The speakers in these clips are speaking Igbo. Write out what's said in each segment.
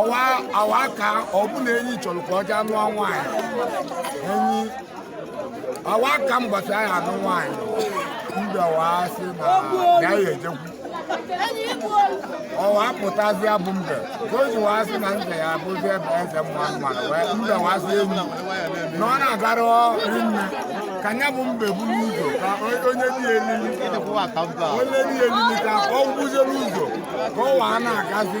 ọwa awa ka ọ bụ na enyi chọrọ ka ọ jee anụ nwaanyị enyi awa ka mbọsị a ya anụ nwaanyị mbe ọwa sị na ya ya ejekwu ọwa pụtazịa bụ mbe ka o ji waa sị na nze ya abụzi ebe eze mma mmadụ wee mbe waa sị enyi na ọ na-agara rinne ka nya bụ mbe buru ụzọ ka onye dị elili onye dị elili ka ọ gwụzie n'ụzọ ka ọ waa na-agazi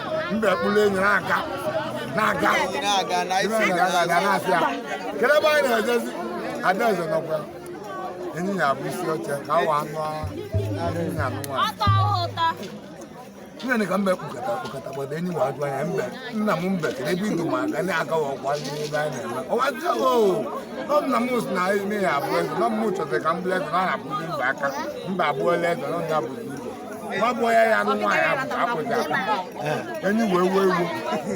mbe kpụrụ enyi na-aga na-aga na-asị ya kedu ebe anyị na-ejezi adaeze na ọkwa enyi ya abụ isi oche ka awa anụ enyi ya anụ nwaanyị nne ka mbe kpụkọta kpụkọta gbada enyi wa ajụọ nya mbe nna m mbe kedu ebe i du m aga na-agawa ọkwa n'ebe anyị na-eme ọwa dị o nọ nna m si na nne ya abụ eze nọ m chọtara ka m bụrụ eze na ọ na-abụzi mbe aka mbe abụọla eze nọ ya bụzi igbo gbagbuo ya ya anụ nwaanyị akpụzi akpụ enyi wee wee iwu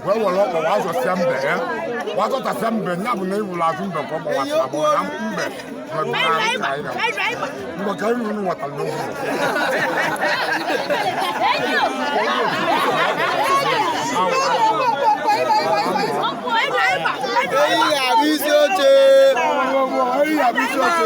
wee were ọkpọ wa zọsịa mbe ya wa zọtasịa mbe ya bụ na ị hụrụ azụ mbe ka ọ gbawasịa bụ na mbe mgbe ka iru unu nwetara n'oge Enyi ga-abụ isi oche. Enyi ga-abụ isi oche.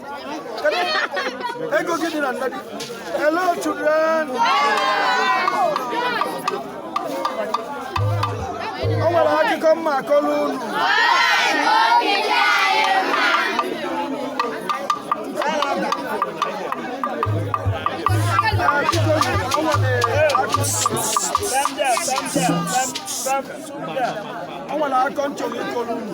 Ego gị dị na nne gị. Hello children. O nwere akụkọ m ga-akọrọ unu. O nwere akụkọ m chọrọ ịkọrọ unu.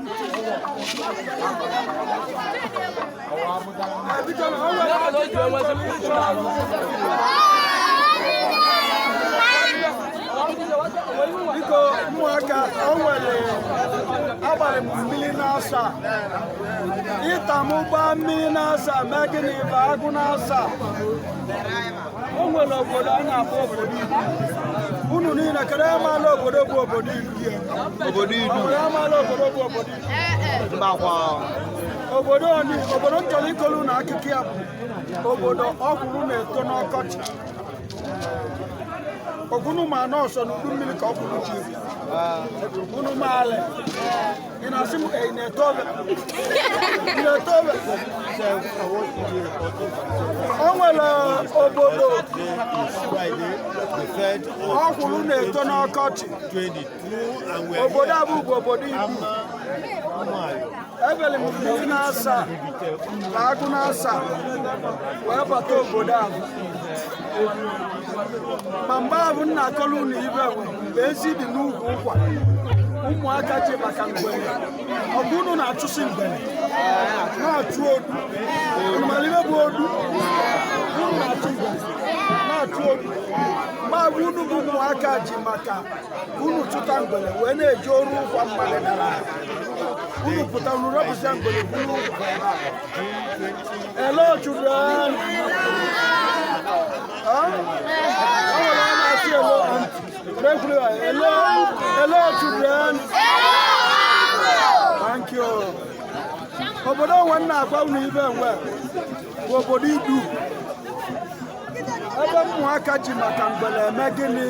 biko ụmụaka o nwere agbalị m mmiri n'asaa ita m gbaa mmiri n'asaa mee gịnị gbaa agụ n'asaa o nwere obodo a na-akpọ obodo idu unu niile kedu onye maala obodo bụ obodo idu obodo idu mbakwa obodo oni obodo m chọrọ ịkọlụ unu akụkọ ya bụ obodo ọkwụrụ na-eto n'ọkọchị ọ bụ unu ma na ọ sọ n'udu mmiri ka ọkwụrụ ji unu maala o nwere obodo ọkwụrụ na-eto n'ọkọchị obodo a bụ obodo Idu efere m mmiri naasaa na agụ naasaa wee bata obodo a ma mgbe ahụ m na-akọlụ unu ibe mgbe ezi dị n'ukwu ụkwa ụmụaka ji maka mgbere ọ bụ unu na-achụsi mgbere na-achụ odu unu mara ihe bụ odu unu na-achụ mgbere na-achụ odu ma ọ bụ unu bụ ụmụaka ji maka unu chụta mgbere wee na-eje oru ụkwa mmadụ dara ala. unu pụta unu rọpụsịa mgbere buru ụkwa ebe a. Hello children obodo ahụ m na-agwa unu ibe enwe bụ obodo Idu ebe ụmụaka ji maka mgbele eme gịnị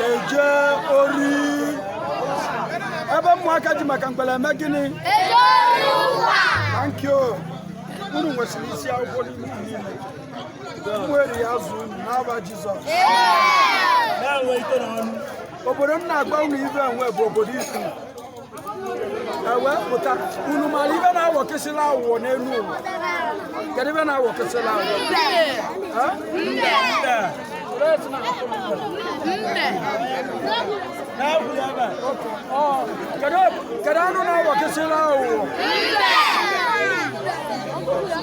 eje ori ebe ụmụaka ji maka mgbele eme gịnị thank you unu nwesịrị isi akwụkwọ n'ime Umueri ya zuo unu n'aba Jizọs obodo m na-agwa unu ibe enwe bụ obodo Idu e wee pụta unu mara ibe na-awọkesịla awụwọ n'elu ụwa kedu ibe na-awọkesịla awụwọ kedu anụ na-awọkesịla aghụghọ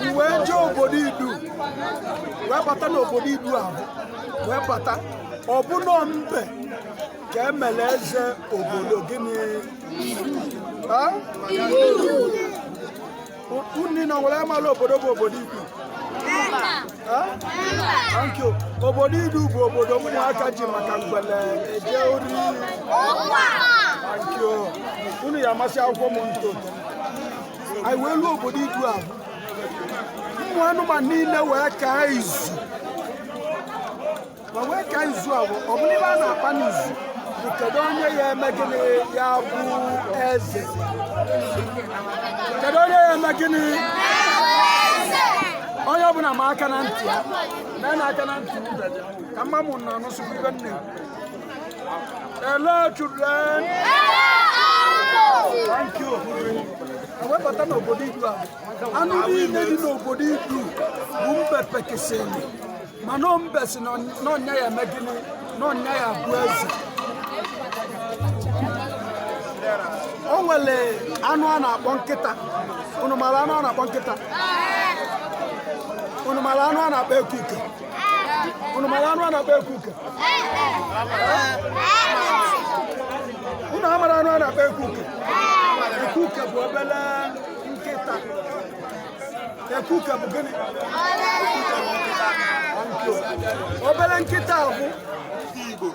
e wee jee obodo Idu wee bata n'obodo Idu ahụ wee bata ọ bụ nọ mbe ka e mere eze obodo gịnị Unu niile amala obodo bụ obodo Idu. Thank you. Obodo Idu bụ obodo ụmụaka ji maka mgbele eje ori. Thank you. Unu ya amasị akwụkwọ m nto. Anyị wee luo obodo Idu a. Ụmụ anụmanụ niile wee kaa izu. wa wee kaa izu ahụ ọ bụrụ ibe a na-akpa n'izu bụ kedu onye ya eme gịnị ya bụ eze kedu onye ya eme gịnị onye ọbụla ma aka na ntị ya mee na aka na ntị ube gị ka mma mụ na anụsụkwa ibe nne Hello children thank you e wee bata n'obodo Idu a anụ niile dị n'obodo Idu bụ mbe pekesịrị mana mbe sị na ọ nya ya-eme gịnị na ọ nya ya-abụ eze o nwere anụ a na-akpọ nkịta unu mara anụ a na-akpọ nkịta unu mara anụ a na-akpọ ekuke unu mara anụ a na-akpọ ekuke unu amara anụ a na-akpọ ekuke ekuke bụ obele nkịta ekuke bụ gịnị obere nkịta bụ igbo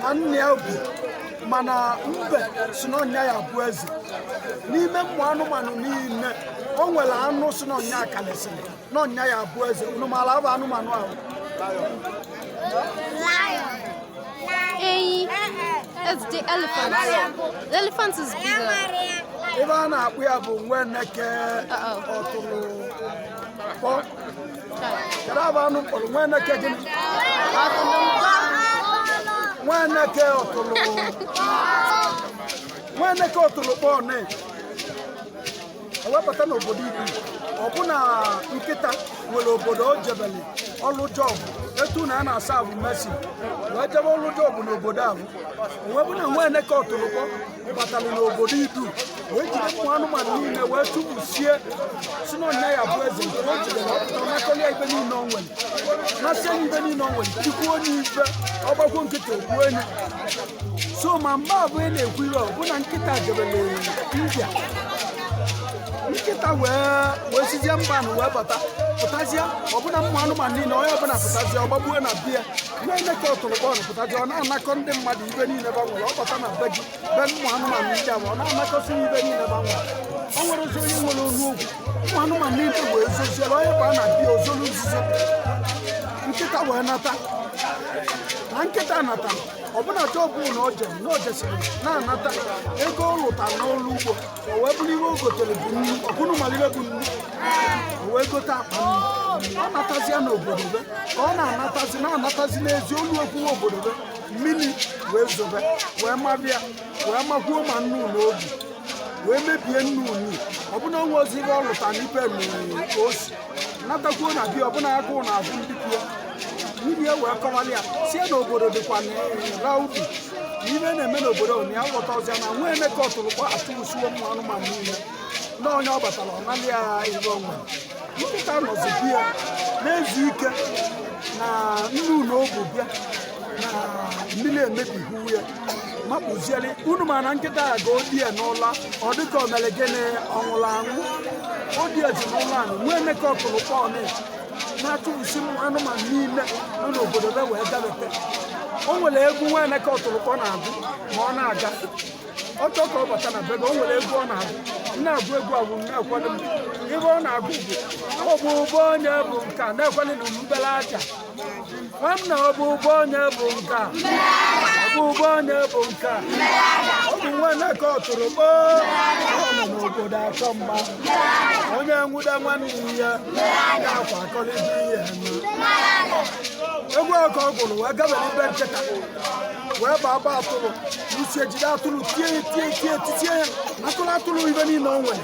na nne ya bụ mana mbe sị na ọ nya ya-abụ eze n'ime ụmụ anụmanụ niile o nwere anụ sị na ọ nya kalịsịrị na ọ nya ya-abụ eze unu maara afa anụmanụ ahụ Enyi. That's the elephant. The elephant is bigger. ife a na-akpọ ya bụ nwa eneke ọtụrụkpọ kedu afa anụ m kpọrọ nwa eneke gịnị nwa eneke ọtụrụ nwa eneke ọtụrụkpọ ne o wee bata n'obodo idu ọ bụ na nkịta nwere obodo o jebelụ ọlụ job etu na a na-asa abụ mesi wee jebe ọlụ job n'obodo ahụ wee bụ na nwa eneke ọtụrụkpọ batara n'obodo idu wee jide ụmụ anụmanụ niile wee chụpụsie sị na ọ nya ya-abụ eze nke o jidere ọ pụta nakọlị ya ife niile o nwere nasị onye ife niile o nwere tikwuo onye ife ọgbagwo nkịta o gbuo onye so ma mgbe ahụ ị na-ekwu ihe ọ bụ na nkịta jebere india nkịta wee wee sizie mba na wee bata pụtazie ọ bụ na ụmụ anụmanụ niile onye ọbụla pụtazie ọ gbabaa na be ya nwa eneke ọtụrụkpọ pụtazie ọ na-anakọ ndị mmadụ ife niile fa nwere ọ bata na be gị be ụmụ anụmanụ ndị ahụ ọ na-anakọsị ife niile fa nwere o nwerọzị onye nwere ọnụ okwu ụmụ anụmanụ niile wee zoziere onye baa na be ya o zolu nzuzo nkịta wee nata na nkịta nata ọ bụ na job na o je na o jesiri na-anata ego ọ lụta n'ọrụ ugbo o wee bụrụ ihe o gotere bụ nnu unu malụ ife bụ nnu o wee gote akpa nnu ọ natazia n'obodo be ka ọ na-anatazi na-anatazi n'ezi o luekwuwe obodo be mmiri wee zobe wee maba ya wee makwuo ma nnu na o bu wee mebie nnu nnu ọ bụ na o nwerọzị ihe ọ lụta n'ife nnu o si natakwuo na be ya ọ bụ na agụụ na azụ ndị kwuo nwunye wee kọwara ya sị ya na obodo dịkwa rowdy na ihe na-eme n'obodo ahụ na ya aghọtarọzị na nwa eneke ọtụrụkpọ achụpụsiwo ụmụ anụmanụ niile na onye ọ batara ọ nalị ya ihe o nwe nkịta nọzi be ya na-ezu ike na nnu na o bu bịa na mmiri emebiwo ya makpuzie alị unu ma na nkịta ya ga odie n'ụla ọ dịka o mere gịnị ọ nwụrụ anwụ ọ dịazị n'ụla ahụ nwa eneke ọtụrụkpọ nị na-achụpụsi ụmụ anụmanụ niile nọ n'obodo be wee gabete o nwere egwu nwa eneke ọtụrụkpọ na-agụ ma ọ na-aga ọ chọọ ka ọ bata na bebe o nwere egwu ọ na-agụ m na-agụ egwu agwụ m na-ekwado m ibe ọ na-agụ bụ ọ bụ ụgbọ onye bụ nka na-ekwado na mbele aja nwanna ọ bụ ụgbọ onye bụ nke a ọ bụ ụgbọ onye bụ nke a ọ bụ nwa eneke ọtụrụkpọ ọ nọ n'obodo achọ mgba onye nwude nwanne ya ya akwakọlịta ihe na egwu ka ọ gụrụ wee gabere be nkịta wee baa gba atụrụ n'isi jide atụrụ tie ya tie ya tie ya titie ya atụrụ atụrụ ibe niile o nwere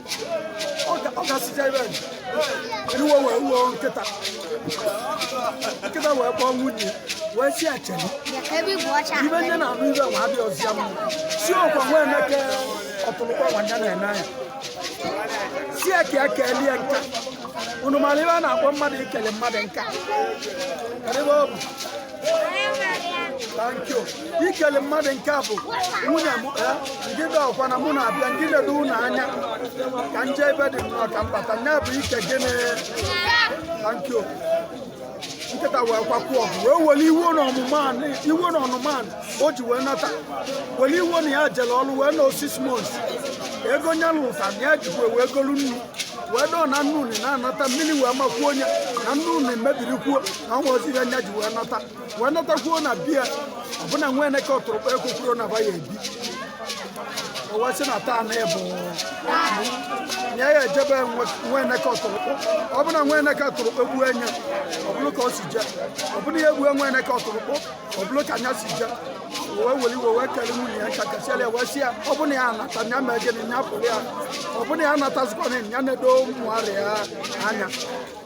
ọ gasịcha ibe iwe wee wuo nkịta nkịta wee kpọọ nwunye wee si acheli ibe nya na-anụ ibe nwa abịa ọzọ ya mma si ọkwa nwa eneke ọtụrụkpọ nwa ya na-eme anya si ya ka ya kelie nka unu mara ibe a na-akpọ mmadụ ikele mmadụ nka kedu ebe ọ bụ thank you ikele mmadụ nke a bụ nwunye m ngịda eh, ọkwa na mụ na-abịa ngị na-edo ụlọ anya ka nje ebe dị nnọọ ka m bata nya bụ ike gịnị thank you nkịta wee kwakwa ọgụ wee were iwe na ọnụma o ji wee nata were iwe na ya jere ọrụ wee nọọ six months ego nya lụta na ya jikwa wee golu nnu wee dọọ na nnu na-anata mmiri wee makwuo nya na nnu mebirikwuo na o nwezi ihe nya ji wee nata wee natakwuo na be ya ọbụna nwa eneke ọtụrụkpọ ekwekwurọ na be ya ebi o wee sị na taa na ọ bụ nya eje be nwa eneke ọtụrụkpọ ọbụna nwa eneke ọtụrụkpọ egbue nya ọ bụlụ ka o si je ọbụna ya egbue nwa eneke ọtụrụkpọ ọ bụlụ ka nya si je wee weli iwe wee kele nwunye ya nka kasịala ya wee sị ya ọ bụna ya anata ya mee gịnị ya pụrụ ya ọ bụna ya anatazikwana ya na-edo ụmụarịa anya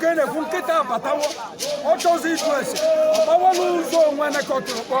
ka na-ekwu nkịta abatawo ọ chọzi ịjụ ese ọ gbawala ụzọ nwa eneke ọtụrụkpọ